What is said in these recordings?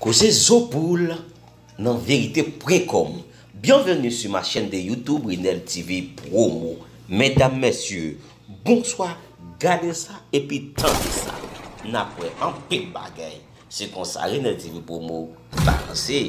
Koze zo poul nan verite pwen kòm Bienvenue sur ma chaîne de YouTube Renel TV promo Medam mesye bonswa gade sa epi tande sa nap wè anpil bagay se konsa Renel TV promo balanse.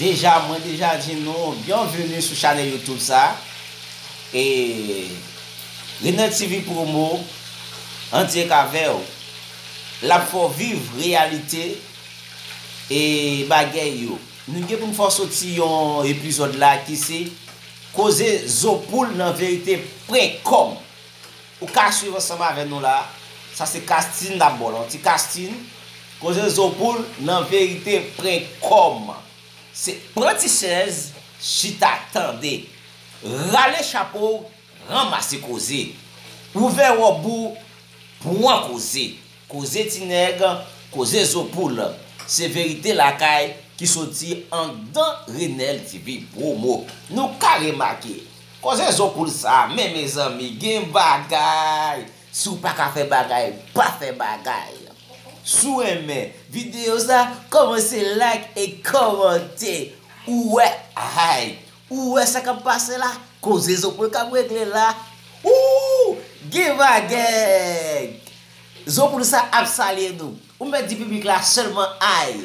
Deja mwen deja di nou byenveni sou chanèl youtube sa e Renel TV promo andyek avèw lap fè w viv reyalite e bagèy yo nou gen pou n fè w soti yon epizòd la ki se koze zo poul nan verite prenk kòm. Ou ka swiv ansanm avè nou la, sa se Castine nap baw la, ti Castine, koze zo poul nan verite prenk kòman se. Pran ti chèz chita tande. Rale chapo w ranmase koze. Ouvè wòb ou pwan koze. Koze ti nèg, koze zo poul. Se verite lakay ki soti andan Renel TV promo. Nou ka remake. Koze zo poul sa men mezanmi gen bagay. Siw paka fè bagay pa fè bagay. Siw renmen video sa komanse like e komante ou wè ayy ou wè sa kap pase la koze zo poul kap regle la ooh gen bagay zo poul sa ap salye nou ou mèt di piblik la selman ayy.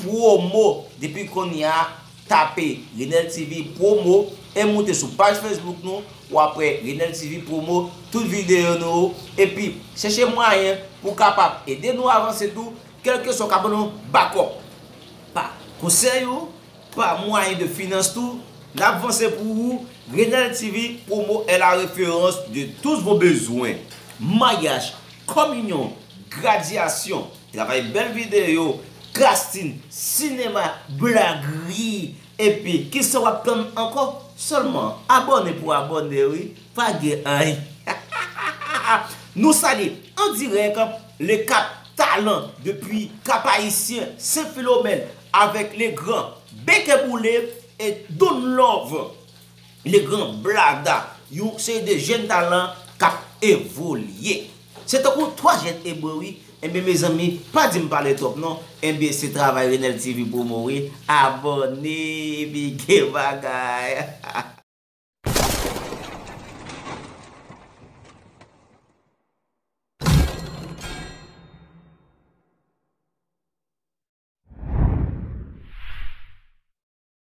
Promo depi konya tape Renel TV promo e moute sou paj Facebook nou wap wè Renel TV promo tout video nou yo epi chèche mwayen pou kapab ede nou avanse tou kelkeswa ou ka ban nou bakòp pa konsèy ou pa mwayen de finans tou nap vanse pou ou Renel TV promo è la referans de tous vos bezwen maryaj kominyon gradyasyon. Travay bel video Gras team. Sinema blag rii epi kisa wap tann ankò selman abone pou abone wi pa gen anyn nou salye an dirèk le cap talan depi cap haïtien sen philomène avèk le gran bekeboule et donlove. Le Grand Blada, yon seri de jèn talan k ap evolye. Se tankou 3 jèn ebre wi. Enben mezanmi, pa di m pale twòp non. Enben se travay Renel TV Promo wi. Abòne epi gen bagay.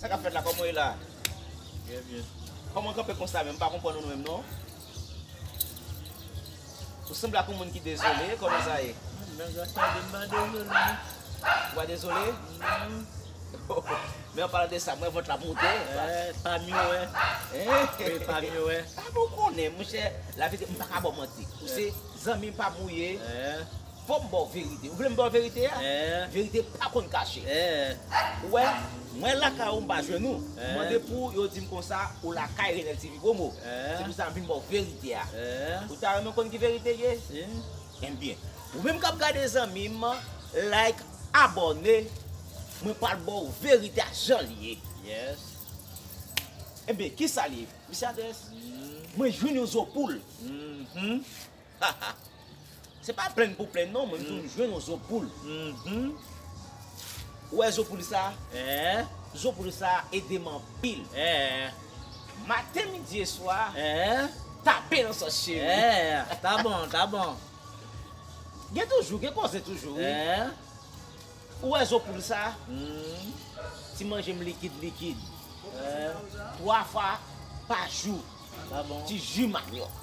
Sa kap fèt la kòman ou ye la? Byen byen. Kòman ou kanpe konsa menm m pa konprann ou menm non. Ou sanble ak yon moun ki dezole kòman sa ye? Mwen nan gras tande m pa dezole non. Ou pa dezole? Non. Men an palan de sa mwen vant la ap moute. Eeh pam yo wè. Eeh. Wi pam yo wè. Sa pou w konnen monchè laverite m pa ka ba w manti. Ou se zanmi m pam ou ye. Eeh. Fò m ba w verite. Ou vle m ba w verite a? Verite pa konn kache. Ou wè, mwen lakay ou m pa jwenn ou. M mande pou ou, yo di m konsa ou lakay Renel TV Promo. Se pou sa m vin ba w verite a. Ou ta renmen konn ki verite ye? Enben, ou menm k ap gade zanmi m, like, abòne, mwen pral ba w verite a jan l ye. Enben, ki sa l ye? Mesi Andres, mwen jwenn yon zo poul. Haha Se pa plenn pou plenn non mwen vin jwenn yon zo poul Ou wè zo poul sa Zo poul sa ede m anpil Maten midi e swa Tape nan sòs cheri Ta bon ta bon Gen toujou gen koze toujou wi Ou wè zo poul sa Ti manje m likid likid 3 fwa pa jou Ti ji manyòk.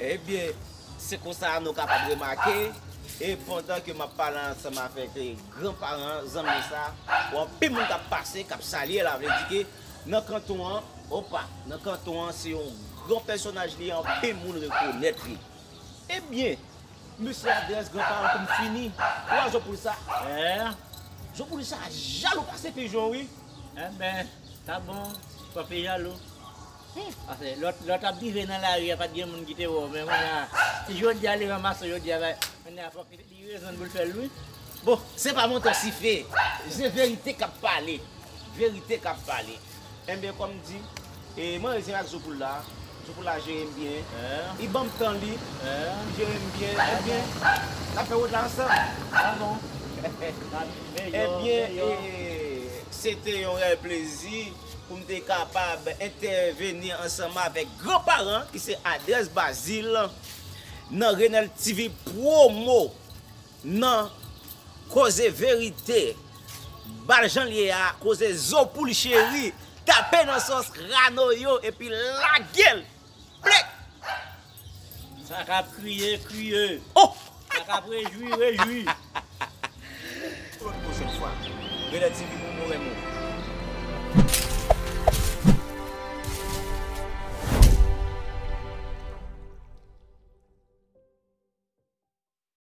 Ebyen, se konsa nou kapab remake, e pandan ke m ap pale ansanm avèk gran paran zanmi sa, ou anpil moun k ap pase, k ap salye la, vle di ke nan kanton an, opa, nan kanton an se yon gran pèsonaj li anpil moun rekonèt li. Ebyen, Mesye adrès gran paran poum fini ou a jopoul sa eh jopoul sa jalou pase pijon wi enben sa bon papi jalou humm pase lòt lè w tap drive nan lari a pat gen moun ki te wè w men kounya si jodia li ranmase w jodia bay kounya fòk li gen rezon pou l fè l wi bon. Se pa manti sife se verite kap pale verite kap pale. Enbyen kòm m di, e mwen rezyen ak zo poul la, zo poul la jere m byen, li banm tan li, li jere m byen, enbyen n ap fè wout la ansanm. Enbyen e se te yon rèl plezi pou m te kapab entèveni ansanm avèk gran paran ki se Adrès Bazil nan Renel TV promo. Nan koze verite bal janl ye a koze zo poul cheri tape nan sos rano yo epi lagel plek. Sa kap kriye kriye sa kap rejwi rejwi. Claude pou sèt fwa. Rele ti pipou mwen renmen w.